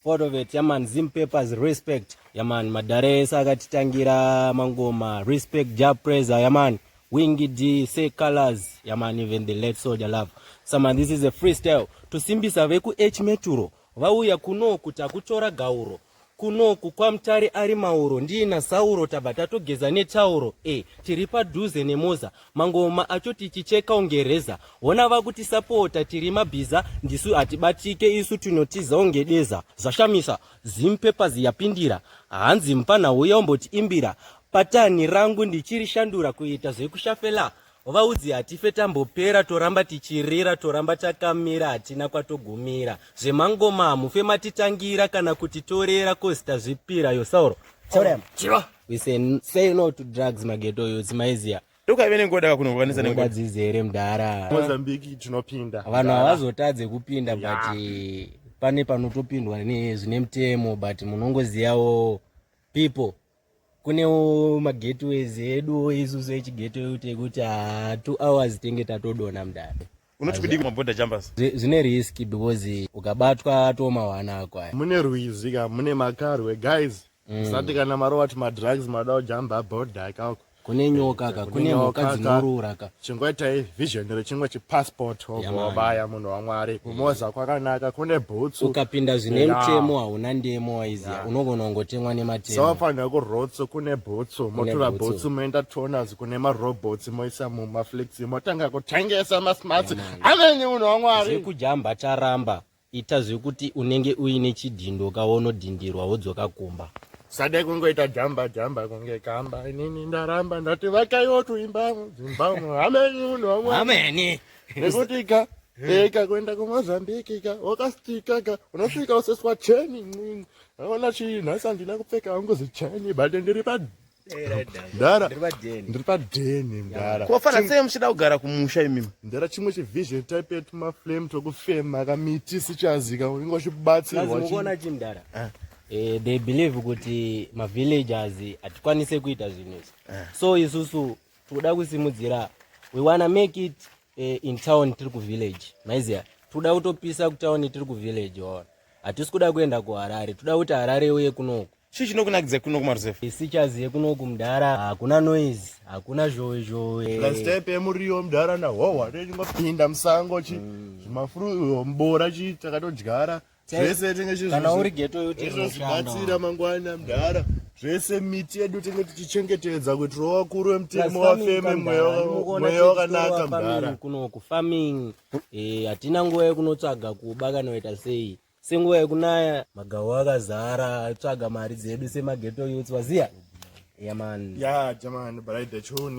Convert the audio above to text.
Part of it, yaman, Zim Papers, respect. Yaman, madare ese akatitangira mangoma, respect, ja praiser, yaman. Wingy D, say colors, yaman, even the late soldier love. Saman, this is a freestyle. Tusimbisa veku H Meturo, vauya kuno kuti akutora gauro. Kuno kukwa mtari ari mauro, ndiina sauro, tabva tatogeza netauro. E, tiri padhuze nemoza, Mangoma acho tichicheka unge reza hona vakutisapota tiri mabhiza ndisu hatibatike isu tinotiza unge deza zvashamisa zim papers yapindira hanzi mupfanha uya umboti imbira patani rangu ndichiri shandura kuita zvekushafela vaudzi hatife tambopera toramba tichirira toramba takamira hatina kwatogumira zvemangoma hamufe matitangira kana kuti torera kozita zvipira yosauro oh, We say, say no to drugs mageto yo zimaizia. Toka ive nengoda kakunokwanisa nengoda. Dzizi here mdara. Mozambique tinopinda. Vanhu havazotadze kupinda yeah. but eh, pane panotopindwa ne zvine mutemo but munongoziyawo people kunewo mageteways edu isusu echigeto yekutekuti 2 hours tenge tatodona mdara. unoti kudii kumaborder jumpers zvine risk because ukabatwa atoma wana ako aya mune rwizi ka mune makarwe guys mm. usati kana marova ti madrugs mada kujamba border ikako kune nyoka ka kune nyoka dzinorura ka chingwaitai vision rechingwa chipassport wobaya munhu wamwari kumoza kwakanaka kune bhutsu ukapinda zvine mutemo hauna ndemo waiziva unogona kungotemwa nematemo so wafanira kurotso kune bhutsu motora bhutsu moenda tonas kune marobots moisa mumaflexi motanga kutengesa masmart amenyi munhu wamwari zvekujamba charamba ita zvekuti unenge uine chidhindo kawonodhindirwa wodzoka kumba sadai kungoita jamba jamba kunge kamba inini ndaramba ndati vakaiwo tuimba dzimba amenyi munhu wamwari nekuti ka eka eh, kuenda kumozambique ka wakastika ka unosvika useswa cheni aona chii nhasi handina kupfeka hangu zicheni but ndiri pa mdara ndiri padheni mdara kofana sei muchida kugara kumusha imimi mdara chimwe chivision type yetu maflame tokufema kamiti sichazika unenge uchibatsirwaona chi mdara ah. eh, they believe kuti mavillagers hatikwanise kuita zvinhu izvi ah. so isusu tikuda kusimudzira we wanna make it eh, in town tiri kuvillage maiziva tikuda kutopisa kutown tiri kuvillage ona hatisi kuda kuenda kuharare tikuda kuti harare uye kunoku Chii chinokunakidza kuno kumaruzevha? Isichas yekunoku mdara hakuna noise, hakuna zhowe zhowe. Lastep yemuriwo mdara na howa ndingopinda musango chi mm. zvimafuru mbora chi takatodyara zvese tenge chi kana uri ghetto yote zvinobatsira mangwana mdara zvese miti yedu tenge tichichengetedza kuti rova kuru wemutemo wafeme mweya wakanaka mdara kunoku farming eh hatina nguva yekunotsvaga kuba kana kuita sei Senguva yekunaya magawo akazara tsvaga mari dzedu semageto youths waziya. Yeah man. Yeah, jamani, but I dachoni.